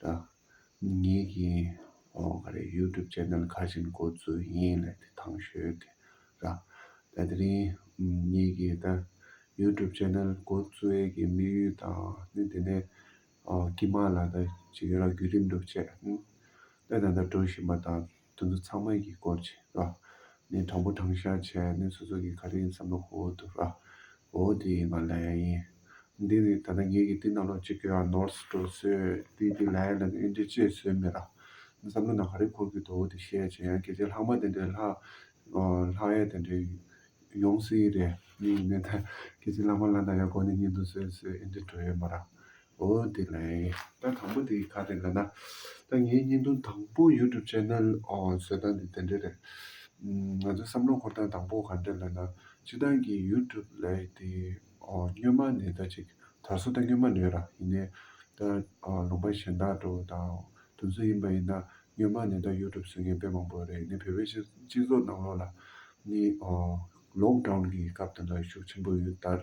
དང། ངེད་ཀྱི་ག་རེ YouTube Channel ཁ་བཞིན་འགོ་འཛུགས་ཡིན་ལ་དེ་ཐང་ཤོད་གི་ར། ད་དེ་རིང་ངེད་ཀྱི་ད YouTube Channel འགོ་འཛུགས་ཡས་ཀྱི་དམིགས་ཡུལ་དང་ནི་དེ་ནས་ཀྱི་མ་ལ་ད་བྱེད་ཀྱི་ར་བརྒྱུད་རིམ་སྒྲུབ་བྱས། ད་ད་ད་འགྲོ་བཞིན་པ་དང། དོན་དུ་ཚང་མས་ཀྱི་སྐོར་བྱས་ར། ནས་དྲང་པོ་དྲང་བཞག་བྱས་ནས་སོ་སོ་ཀྱི་ག་རེ་ཡིན་བསམ་པའི་ཧོ་ཧོ་དུ་ར། ཧོ་ཧོ་དེ་ཡིན་པ་ལ་ཡ་ཡིན། འདི་ནི་ད་ལྟ་ངེད་ཀྱི་ཏིན་ནང་ལོག་ཅིག་གི་ར་ནོར་སི་འགྲོ་སྲོལ་ཏིན་ཏིན་ལ་ཡ་ལ་ནི་ཨེ་འདྲི་ཅེས་སྲོལ་མེད་ར། བསམ་བློ་ན་ག་རེ་འཁོར་གི་འདུག་ཨོ་དེ་བཤད་བྱས་ཡང་གལ་ཆེ་ལྷག་མ་དེ་འདྲའི་ལྷག། ལྷག་ཡ་དེ་འདྲའི་ཡོང་སྲིད་རེད་གནས་ཡིན་ནའི་ཐལ། གལ་ཆེ་ལྷག་མ་ལ་ན་ཡ་གོ་ནས་གཉིད་འདུག་སྲོལ་སྲོལ་ཨེ་འདྲི་འགྲོ་ཡོད་མ་ར། འོ་དེ་ལས་ད་དང་པོ་དེ་ག་རེད་ལ་ན། ད་ངའི་བརྙན་ཐུང་དང་པོ YouTube Channel འོ་བཟོས་སྟངས་དེ་དེ་འདྲ་རེད། ང་ཚོའི་བསམ་བློ་འཁོར་སྟངས་དང་པོ་ག་འདྲ་ལ་ན། སྤྱི་བཏང་གི YouTube ལས་དེ་འོ་སྨྱོན་མ་ནས་ད་ཅིག་ད་གཟོད་ད་སྨྱོན་མ་ནས་ར་ཡིན་ནའི། ད་འོ་ལུང་པ་གཞན་དག་དྲོ་དང་དུ་འཛུལ་ཡིན་པ་ཡིན་ན་སྨྱོན་མ་ནས་ད YouTube བཟོས་མཁན་དཔེ་མང་པོ་རེད་ནའི་བོད་པའི་སྤྱི་སྤྱི་ཚོགས་ནང་ལོགས་ལ་ནའི་འོ Lockdown གི་སྐབས་དེ་འདྲ་ཤུགས་ཆེན་པོ་ཡོད་ལྟར།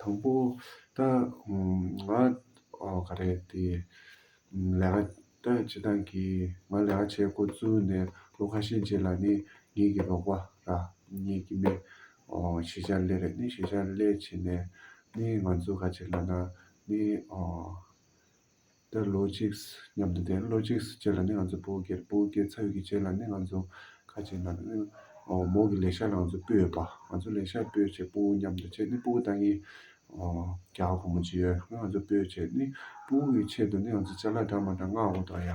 དང་པོ། ད་ང་ག་རེ་དེ་ལས་ཀ་ད་བྱེད་སྟངས་ཀྱི་ང་ལས་ཀ་བྱེད་དགོས་ཚུལ་ནས་ལོ་ཁ་ཤས་རྗེས་ལ་ནི་ངེད་ཀྱི་རོགས་པ་ར་ངེད་ཀྱི་མེ་ཞེ་ཆ་ལེ་རེད་ནི་ཞེ་ཆ་ལེ་བྱེད་ནས་ནི་ང་ཚོ་ག་བྱེད་ལ་ན་ནི། དེར་ལོ་གཅིག། མཉམ་དུ་དེར་ལོ་གཅིག་བྱས་ལ་ནི་ང་ཚོ་བོད་སྐྱེལ། བོད་སྐྱེལ་ཚར་བའི་རྗེས་ལ་ནི་ང་ཚོ་ཁ་ཆེ་ནང་ནས་མོ་གི་ལས་ཤག་ལ་ང་ཚོ་སྤོས་ཡོད་པ། ང་ཚོ་ལས་ཤག་སྤོས་བྱས་སྤོ་བོ་མཉམ་དུ་བྱས་ནི་སྤོ་བོ་ད་ངའི་རྒྱ་བོ་བུ་མོ་གཅིག་ཡོད། ང་ཚོ་སྤོས་བྱས་ནི་སྤོ་བོ་གི་ཆེད་དུ་ནི་ང་ཚོ་ལྕགས་ལ་འདྲ་མ་འདྲ་མངགས་འོ་དོ་ཡ།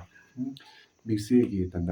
དམིགས་བསལ་གྱིས་ད་ལྟ།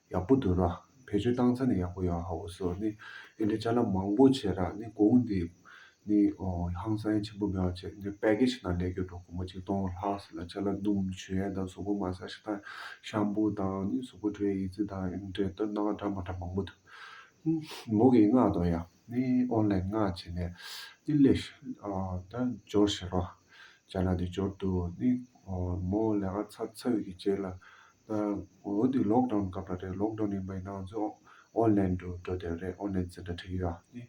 ཡག་པོ་འདུག་ར། བེད་སྤྱོད་བཏང་ཚ་ནི་ཡག་པོ་ཡོང་ཧའོ་སོ་ནི་ཨེ་འདྲའི་བྱ་ལམ་མང་པོ་བྱས་ར་ནི་གོང་འདི་ནི་ཧང་སངས་ཆེན་པོ་མེའོ་བྱས་འདི་པད་ཀེ་ཆེ་ན་ལས་གྱོད་གྲོགས་གོང་མ་ཆིག་སྟོང་ལྷག་སི་ལ་བྱ་ལ་ནུམ་ཆུ་ཡན་དང་སོག་པོ་མ་ས་ཤི་དང་ཤམ་པོ་དང་ནི་སོག་པོ་དྲའི་ཡི་ཙི་དང་ཨེ་འདྲའི་སྟོད་ནང་འདྲ་མ་འདྲ་མང་པོ་འདུག་ཧུམ་མོ་གིས་སྔགས་དང་ཡང་ནི་ཨོན་ལེན་སྔགས་བྱས་ནས་ནི་སླེ་ཤི་དང་སྦྱོར་བྱས་ར་བྱ་ལ་ནི་སྦྱོར་དུ་ནི་མོ་ལས་ང་ཚ་ཚ་བི་གི་བྱས་ལ་འདི་ལོག་ཏོན་སྐབས་རེད་ལོག་ཏོན་ཡིན་པ་ཡིན་ན་ང་ཚོ་ཨོ་ལན་དུ་འགྲོ་བསྡད་རེད་ཨོ་ལན་ཟེར་ན་འགྲིག་གི་ར་ནི།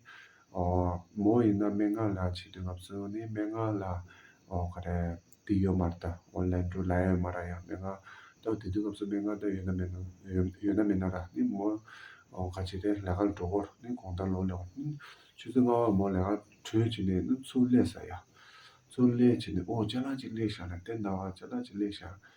མོ་ཡིན་ན་སྨན་ཁང་ལ་ཆས་དུས་ང་ཚོ་ནི་སྨན་ཁང་ལ་ག་རེ་དེ་ཡོད་མ་རེད་ད་ཨོ་ལན་དུ་ལ་ཡོད་མ་ར་ཡ་སྨན་ཁང་ད་དེ་དུས་ང་ཚོ་སྨན་ཁང་ད་ཡོད་ན་མེད་ན་ཡོད་ན་མེད་ན་ར་ནི་མོ་ག་བྱས་ཏེ་ལས་ཀ་ལ་འགྲོ་དགོས་ར་ནི་གོང་ལྟར་ལོག་ལས་བ་ནི་ཆུ་ཚོད་ལྔ་བར་མོ་ལས་ཀ་གྲོལ་བྱས་ནས་ནི་ཚུར་སླེབས་ས་ཡ། ཚུར་སླེབས་བྱས་ནས་ཨོ་ལྕེ་ལགས་ཅིག་སླེབས་ཤག་ན་དེ་ན་བ་ལྕེ་ལགས་ཅིག་སླེབས་ཤག་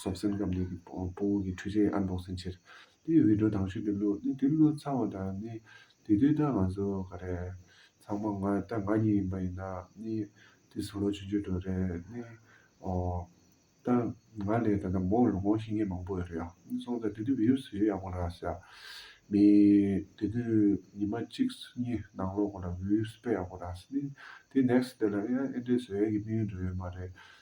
སོགས་སེམས་ཁམས་གཉིས་ཀྱི་སྤོ་བོ་གྱི་འཁྲུལ་ཆའི་ཨ་མདོ་སེམས་ཕྱིར། དེ་ཡི་འོད་འཕྲོ་དྭངས་ཤུལ་དུ་བླུག། ནི་དེ་བླུག་ཚར་བ་དང་ནི། དེ་དུས་ད་ང་ཚོ་ག་རེ། ཚང་མ་ང་ད་ང་གཉིས་ཡིན་པ་ཡིན་ན། ནི། དེ་སུ་ལོ་ཆུང་ཆུང་དྲོ་རེད། ནི། ཨོ། ད། ང་ལས་ད་ལྟ་མོ་ལོ་འགོང་ཤི་ངེས་མང་པོ་ཡོད་རེད་ཨ། ནི་སོང་ཙང་དེ་དུས་བུ་ཡུག་སུ་ཡོད་ཡག་པོ་ལགས། ཤ། མི། དེ་དུས་ཉི་མ་གཅིག་སུ་གཉིས་ནང་ལོག་གོ་ལ་བུ་ཡུག་སུ་ཕེབས་ཡག་པོ་ལགས། ནི། དེ next day ལ་ཨེ་ཨེ་འདྲས་སུ་ཨེ་གི་དམིགས་ཡུལ་འགྲོ་ཡོད་མ་རེད།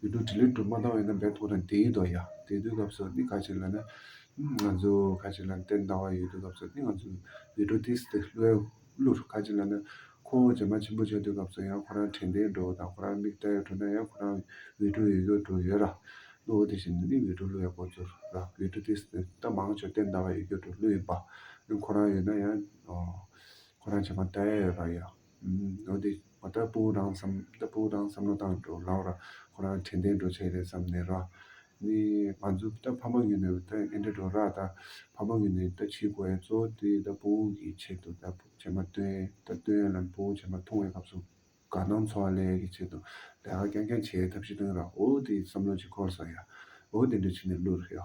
ཡུལ་དུ་དྲི་ལན་དྲུག་མ་བཏང་བས་ན་འབད་ཐོག་དང་དེ་ཡི་དོ་ཡ། དེ་དུས་སྐབས་སུ་ནི་ཁ་ཅིག་ལ་ནི། ང་ཚོ་ཁ་ཅིག་ལ་ནི་དེར་འདའ་བ་ཡོད་དུས་སྐབས་སུ་ནི་ང་ཚོ་ཡུལ་གྲུ་དེ་སྟེ་ལྷོའི་ཀླུར་ཁ་ཅིག་ལ་ནི། ཁོ་བོ་བྱེ་མ་ཆེན་པོ་བྱེད་དུས་སྐབས་སུ་ཡང་ཁོ་རང་དྲན་ཏེ་འགྲོ་བ་དང་ཁོ་རང་མིག་བལྟ་ཡོད་འགྲོ་ན་ཡང་ཁོ་རང་ཡུལ་གྲུ་ཡོད་ཀྱོ་གྲུ་ཡོད་ར། གླུ་བོ་དེ་བཞིན་དུ་ནི་ཡུལ་གྲུ་ཀླུ་ཡང་ཁོ་ཚོར་ར་ཡུལ་གྲུ་དེ་སྟེ་རྟ་མང་ཆོས་དེར་འདའ་བ་ཡོད་ཀྱོ་གྲུ་ཀླུ་ཡིན་པ། ཁོ་རང་ཡོད་ན་ཡང། ཁོ་རང་བྱེ་མ་བལྟ་ཡ་ཡོད་ར་ཡ། འོ་དེ་བ་ལྟ་བུ་རང་བསམ་ལྟ་བུ་རང་བསམ་བློ་བཏང་འགྲོ་ལགས་ར་ཁོ་རང་དྲན་ལྡན་འགྲོ་བྱས་རེད་བསམ་ནས་ར། ནི་ང་ཚོ་ལྟ་ཕ་མ་གི་ནི་ལྟ་ཨེ་འདྲ་འགྲོ་ར་ལྟ་ཕ་མ་གི་ནི་ལྟ་ཕྱི་དགོས་ཨེ་གཙོ་དེ་ལྟ་བུ་གི་ཆེད་དུ་ལྟ་བུ་བྱས་མ་སྟོན་ལྟ་སྟོན་ལམ་བུ་བྱས་མ་ཐུང་བའི་སྐབས་སུ་དགའ་སྣང་འཚོ་བ་ལས་གི་ཆེད་དུ་ལས་ཀ་རྐྱང་རྐྱང་བྱས་ཐབས་ཤེས་སྟོན་ར་འོ་དེ་བསམ་བློ་གཅིག་འཁོར་སོང་ཡ་འོ་དེ་འདྲ་བྱས་ནས་བསླུ་ར་ཡ།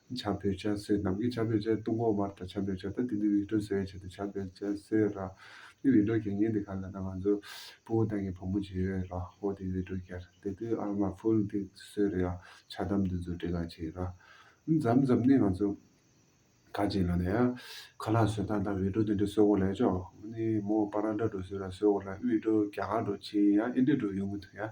བྱམས་པའི་སྤྱན་གསོལ། ནམ་མཁའི་བྱམས་པའི་སྤྱན་སྟོང་འཁོར་བར་དང་བྱམས་པའི་སྤྱན་ད་ཏི་ནི་འོད་སྤྲོ་སེ་བའི་ཆེད་དུ་བྱམས་པའི་སྤྱན་གསོལ་ར། ནི་འོད་སྤྲོ་གྱ་ངན་དེ་ག་ལ་ན་ང་ཚོ་སྤུ་བོ་ཏང་གི་བུ་མོ་བྱེད་ཡོད་ར་ཧོ་དེ་འོད་སྤྲོ་གྱར་དེ་དུ་ཨ་མ་ཕུལ་དེ་གསོལ་ར་ཆ་དམ་དུ་འཛུལ་བྲེ་ག་བྱེད་ར། འཛམ་འཛམ་ནི་ང་ཚོ་ག་བྱེད་ལ་ན་ཡ། ཁ་ལག་སོལ་སྟངས་དང་འོད་སྤྲོ་དེ་འདྲ་གསོལ་བོ་ལ་ཡ་ཅོ། ནི་མོ་པ་རང་འདྲ་འགྲོ་གསོལ་ར་གསོལ་བོ་ར་འོད་སྤྲོ་གྱ་ག་འགྲོ་ཆེ་ཡ་ཨེ་འདྲ་འགྲོ་ཡོང་གི་འདུག་ཡ།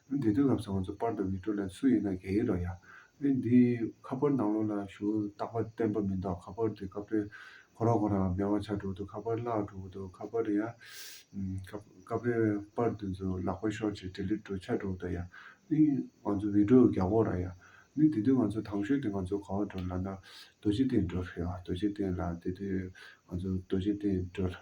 འདི་དོན་ལབ་སོང་ང་ཚོ་པར་དང་མི་ཏྲོ་ལན་སུ་ཡིན་ན་གད་ཡིག་རོགས་ཡ། ཨེ་འདི་ཁ་པར་ནང་ལོག་ན་ཞུ་རྟག་པ་བསྟན་པ་མིན་འདོག་ཁ་པར་དེ་སྐབས་རེ་ཁོ་རང་ཁོ་རང་མེད་བ་ཆགས་འགྲོ་གི་འདུག་ཁ་པར་བརླག་འགྲོ་གི་འདུག་ཁ་པར་རེ་ཡ། སྐབས་རེ་པར་དེ་ཚོ་ལག་པ་ཤོར་ཆེད་དེ་ལེ་འགྲོ་ཆགས་འགྲོ་གི་འདུག་ཡ། ཨེ་ང་ཚོ་མི་ཏྲོ་གི་རྒྱ་གོག་ར་ཡ། ཨེ་འདི་དོན་ང་ཚོ་དྭངས་ཤོད་དེ་ང་ཚོ་ག་བ་འགྲོ་ལབ་ན་རྡོ་རྗེ་གདན་འགྲོ་རེད་ཨ་རྡོ་རྗེ་གདན་ལ་འདི་དོན་ང་ཚོ་རྡོ་རྗེ་གདན་འགྲོ།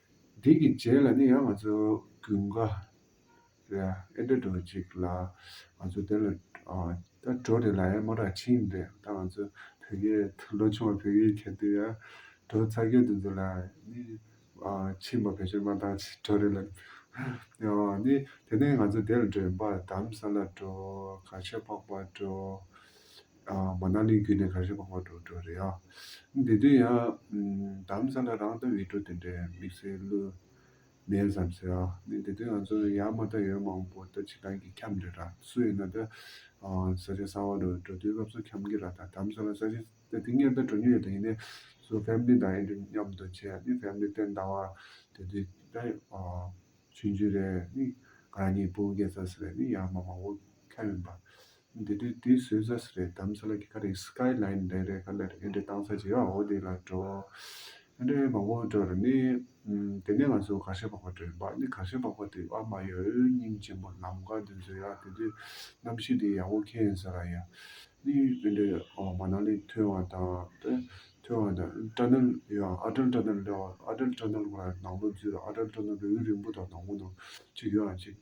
འདི་གི་རྗེས་ལ་ནི་ཡང་ང་ཚོ་དགུན་ཁ་རེད་ཨ་ཨེ་འདྲ་འགྲོ་ཅིག་ལ་ང་ཚོ་དེ་ལ་ད་འགྲོ་དེ་ལ་ཨེ་མོ་ར་ཆིན་རེད་ད་ང་ཚོ་བོད་སྐད་དུ་ལོ་ཆུང་བ་བོད་སྐད་གྱ་དུས་ཡ་འགྲོ་ཚ་སྐད་དུ་འཛུགས་ལ་ནི་ཆིན་པ་བེད་སྤྱོད་མ་ཏང་ཅིག་འགྲོ་རེད་ལ་ནི་དེ་ནས་ང་ཚོ་དེ་ལ་འགྲོ་ཡིན་པ་དམ་ས་ལ་འགྲོ་ག་ཆོད་ཕག་པ་འགྲོ། མ་ནག་ལས་གུད་ནས་གར་ཞིག་འཕགས་པར་འགྲོ་འགྲོ་རེད་ཨ། དེ་དུས་ཡང། དམ་ས་ལ་རང་ལྟ་བའི་སྤྲོ་དེ་འདྲའི་དམིགས་བསལ་བློས། མེད་བསམ་ཟེར་ཨ། ནས་དེ་དུས་ང་ཚོར་ཡ་མ་ཏ་ཡོད་མང་པོ་ལྟ་ཅི་གང་གི་འཁྱམས་རེད་ར་སུ་ཡིན་ན་ད། ས་ཆ་གསར་བ་རུ་འགྲོ་དུས་སྐབས་སུ་འཁྱམས་གི་ར་ད་དམ་ས་ལ་ས་ཆ་ད་དེ་ཉེར་ལྟ་འགྲོ་ཉེ་ཡོད་ད་ཡིན་ནས་སུ family དང་ཨེ་འགྲོ་མཉམ་དུ་བྱས་ཨ་ནི family སྟེ་ཟླ་བ་དེ་དུས་ད། ཆུང་ཆུང་རེད་ཨ་ནི། ང་རང་གཉིས་སྤུན་བརྒྱད་ཙམ་ཟེར་བས་ནི་ཡ་མ་མང་བོ་འཁྱམས་ཡོད་པ། འདི་དུས་དུས་སུ་བཟའ་ས་རེད་དམ་ས་ལ་གི་ཁ་རེད Sky Line རེད་རེད་ག་ལ་རེད་ཨེ་འདྲས་བཏང་ས་ཇི་བའོ་འདི་ལ་འགྲོ་ཨེ་འདྲས་མ་བོ་འགྲོ་རེད་ནི། དེ་ནས་ང་ཚོ་གར་ཤ་བག་པ་འགྲོ་ཡོད་འབག་ནི་གར་ཤ་བག་པ་དེ་ཨ་མ་ཡ་ཨོའི་སྙིང་ཆེན་པོ་ལམ་དགའ་འདི་ཚོ་ཡ་དེ་དུས་གནམ་གཤིས་དེ་ཡག་པོ་ཁེན་ས་ར་ཡ། ནི་ཨེ་འདྲས་ཨོ་མ་ནང་ནི་ཐོན་བ་དང་ཨེ་ཐོན་བ་དང་སྐྲ་ནོལ་ཡང་ཨ་སྐྲ་སྐྲ་ནོལ་ཨ་སྐྲ་སྐྲ་ནོལ་ང་རང་ནང་པོ་འཛུལ་ར་ཨ་སྐྲ་སྐྲ་ནོལ་རེ་འུ་རིང་པོ་དང་ནང་པོ་ནང་ཆུ་ཡོའང་ཆེ།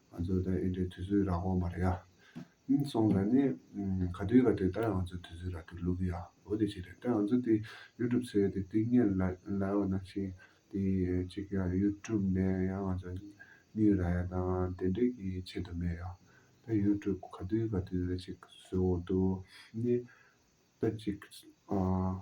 ང་ཚོ་དང་ཨིན་དྲའི་དུས་ཚོད་རག་དགོངས་པ་རེད་ཡ། ཨིན་སོང་ལ་ནི། ག་དུས་ག་དུས་ད་ཡང་ང་ཚོའི་དུས་ཚོད་རག་གི་ལུགས་ཡ་འོ་དེ་ཞིག་རེད་ད་ང་ཚོ་དེ YouTube ཚོའི་དེ་སྟེང་ཉན་ལ་ཡོད་ན་ཞིང་དེ་གཅིག་གི YouTube ནས་ཡང་ང་ཚོ་གཉིས་རག་ཡ་དང་དེ་འདྲས་ཀྱི་ཆེད་དུ་མེད་ཡ། ད YouTube ག་དུས་ག་དུས་རེད་ཅིག་བཟོས་འོང་དུ་ནི་ད་ཅིག་ཨ།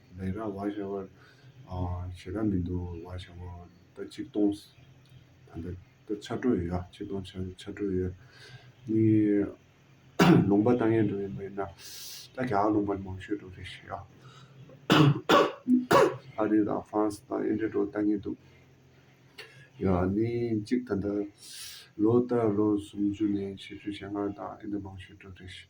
ལས་ར་བ་བྱ་བར་བྱེད་ར་མི་འདུག་བ་བྱ་བ་ད་ཅིག་སྟོང་ད་ལྟ་ད་ཆ་དྲོད་ཡོད་ཨ་ཅིག་སྟོང་ཆ་ཆ་དྲོད་ཡོད་གཉིས་ལུང་པ་ད་ངས་འགྲོ་ཡིན་མིན་ན་ད་ག་ལུང་པར་མང་ཤོས་འགྲོ་རེད་ཤི་ཨ། ཨ་རི་དང་ཧྥ་རན་སི་དང་ཨིན་དྲེ་འགྲོ་ད་ངེས་འདུག་ཡོད་ཨ་ནི་ཅིག་ད་ལྟ་ལོ་ལྟར་ལོ་སུམ་ཅུ་ནས་ཕྱི་ཅུ་ཞེ་ལྔ་དང་ཨིན་དྲེ་མང་ཤོས་འགྲོ་རེད་ཤི།